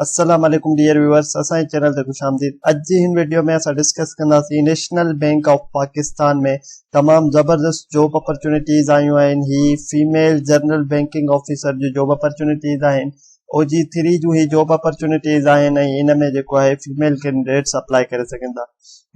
السلام عليڪم dear viewers اسان جي چينل تي خوش آمديد اڄ جي هن ويڊيو ۾ اسان ڊسڪس ڪنداسين نيشنل بينڪ آف پاڪستان ۾ تمام زبردست جاب اپرچونيٽيز آيون آهن هي فيميل جنرل بينڪنگ آفيسر جو جاب اپرچونيٽيز آهن او جي ٿري جون هي جاب اپرچونيٽيز آهن ۽ ان ۾ جيڪو آهي فيميل ڪينڊيڊيٽس اپلائي ڪري سگهن ٿا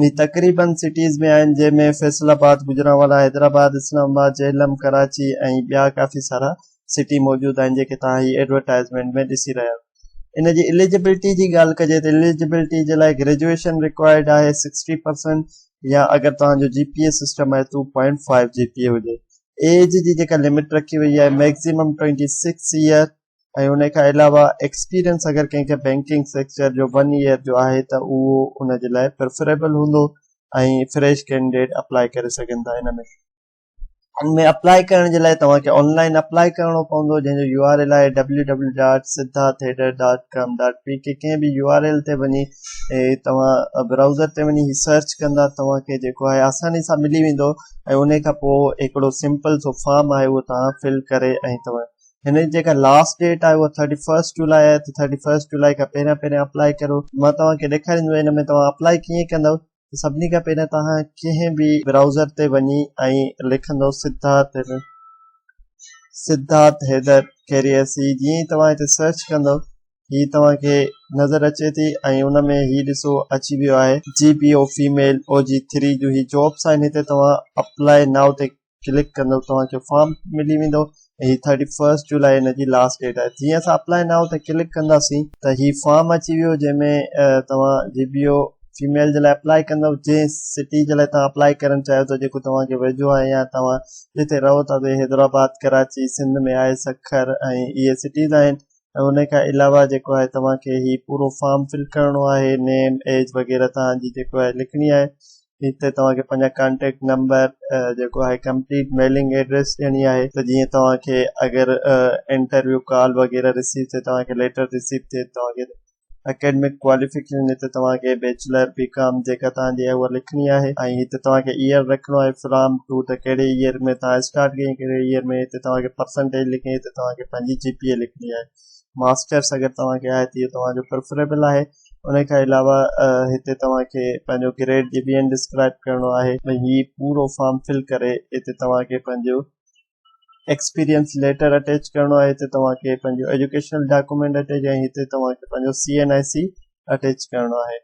هي تقريبن سٽيز ۾ آهن جنهن ۾ فيصل آباد گجرانوالا حيدرآباد اسلام آباد جهلم ڪراچي ۽ ٻيا ڪافي سارا سٽي موجود آهن جيڪي توهان هي ايڊورٽائزمينٽ ۾ ڏسي رهيا آهيو ان جي اليجبلٽي جي ڳالهه ڪجي ته اليجبلٽي جي لاء گريجوئيشن رڪوائرڊ آهي سڪسٽي پرسنٽ يا اگر توهان جو جي پي اي سسٽم آهي two point five G P A هجي ايج جي جيڪا لمٽ رکي وئي آهي ميڪزيمم ٽوئنٽي سڪس ايئر ۽ ان کان علاوه ايڪسپيرينس اگر ڪنهن کي بينڪنگ سيڪچر جو ون ايئر جو آهي ته اهو ان جي لاء پرفريبل هوندو ۽ فريش ڪينڊيڊيٽ اپلائي ڪري سگهن ٿا ان ۾ ان ۾ اپلاء ڪرڻ جي لاء توهان کي آن لائن اپلاء ڪرڻو پوندو جنهن جو يو آر ايل آهي www.siddhatheater.com.pk ڪنهن به يو آر ايل تي وڃي توهان براوزر تي وڃي سرچ ڪندا توهان کي جيڪو آهي آساني سان ملي ويندو ۽ ان کان پوء هڪڙو سمپل سو فارم آهي اهو توهان فل ڪري ۽ توهان هن جي جيڪا لاسٽ ڊيٽ آهي اها ٿرٽي فرسٽ جولاء آهي ته ٿرٽي فرسٽ جولاء کان پهريان پهريان اپلاء ڪريو مان توهان کي ڏيکاريندو آهيان هن ۾ توهان اپلاء ڪيئن ڪندو سڀني کان پهريان توهان ڪنهن به برائوزر تي وڃي ۽ لکندو سڌارٿ حيدر سڌارٿ حيدر ڪيري ايس سي جيئن ئي توهان هتي سرچ ڪندو هي توهان کي نظر اچي ٿي ۽ ان ۾ هي ڏسو اچي ويو آهي G P O female O G three جو هي جابس آهن هتي توهان اپلائي ناو تي ڪلڪ ڪندو توهان کي فارم ملي ويندو ۽ هي ٿرٽي فرسٽ جولاء هن جي لاسٽ ڊيٽ آهي جيئن اسان اپلائي ناء تي ڪلڪ ڪنداسين ته هي فارم اچي ويو جنهن ۾ توهان جي بي او فيميل جي لاء اپلائي ڪندو جنهن سٽي جي لاء توهان اپلائي ڪرڻ چاهيو ٿا جيڪو توهان کي ويجهو آهي يا توهان جتي رهو ٿا تي حيدرآباد ڪراچي سنڌ ۾ آهي سکر ۽ اهي سٽيز آهن ۽ ان کان علاوه جيڪو آهي توهان کي هي پورو فارم فل ڪرڻو آهي نيم ايج وغيره توهان جي جيڪو آهي لکڻي آهي هتي توهان کي پنهنجا ڪانٽيڪٽ نمبر جيڪو آهي ڪمپليٽ ميلنگ ايڊريس ڏيڻي آهي ته جيئن توهان کي اگر انٽرويو ڪال وغيره رسيو ٿي توهان کي ليٽر رسيو ٿي توهان کي اڪيڊمڪ ڪواليفڪيشن هتي توهان کي بيچلر بي ڪام جيڪا توهان جي اها لکڻي آهي ۽ هتي توهان کي ايئر رکڻو آهي فرام ٽو ته ڪهڙي ايئر ۾ توهان اسٽارٽ ڪئي ڪهڙي ايئر ۾ هتي توهان کي پرسنٽيج لکڻي هتي توهان کي پنهنجي جي پي اي لکڻي آهي ماسٽرس اگر توهان کي آهي ته اهو توهان جو پريفريبل آهي ان کان علاوه هتي توهان کي پنهنجو گريڊ جي بي اين ڊسڪرائب ڪرڻو آهي ۽ هي پورو فارم فل ڪري هتي توهان کي پنهنجو ايڪسپيرينس ليٽر اٽيچ ڪرڻو آهي هتي توهان کي پنهنجو ايجوڪيشنل ڊاڪومينٽ اٽيچ ۽ هتي توهان کي پنهنجو C N I C attach ڪرڻو آهي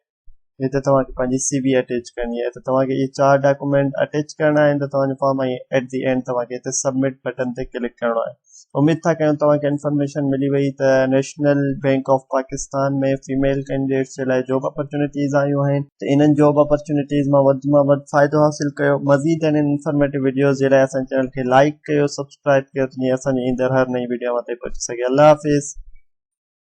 هتي توهان کي پنهنجي سي بي اٽيچ ڪرڻي آهي ته توهان کي اهي چار ڊاڪومينٽ اٽيچ ڪرڻا آهن ته توهان جو فارم ۽ ايٽ دي اينڊ توهان کي هتي سبمٽ بٽن تي ڪلڪ ڪرڻو آهي اميد ٿا ڪيون توهان کي انفارميشن ملي وئي ته national bank of Pakistan ۾ female candidates جي لاء جاب اپرچونيٽيز آيون آهن ته انهن جاب اپرچونيٽيز مان وڌ مان وڌ فائدو حاصل ڪيو مزيد اهڙين انفارميٽو وڊيوز جي لاء اسان چينل کي لائيڪ ڪيو سبسڪرائب ڪيو جيئن اسان جي ايندڙ هر نئين وڊيو اوهان تائين پهچي سگهي الله حافظ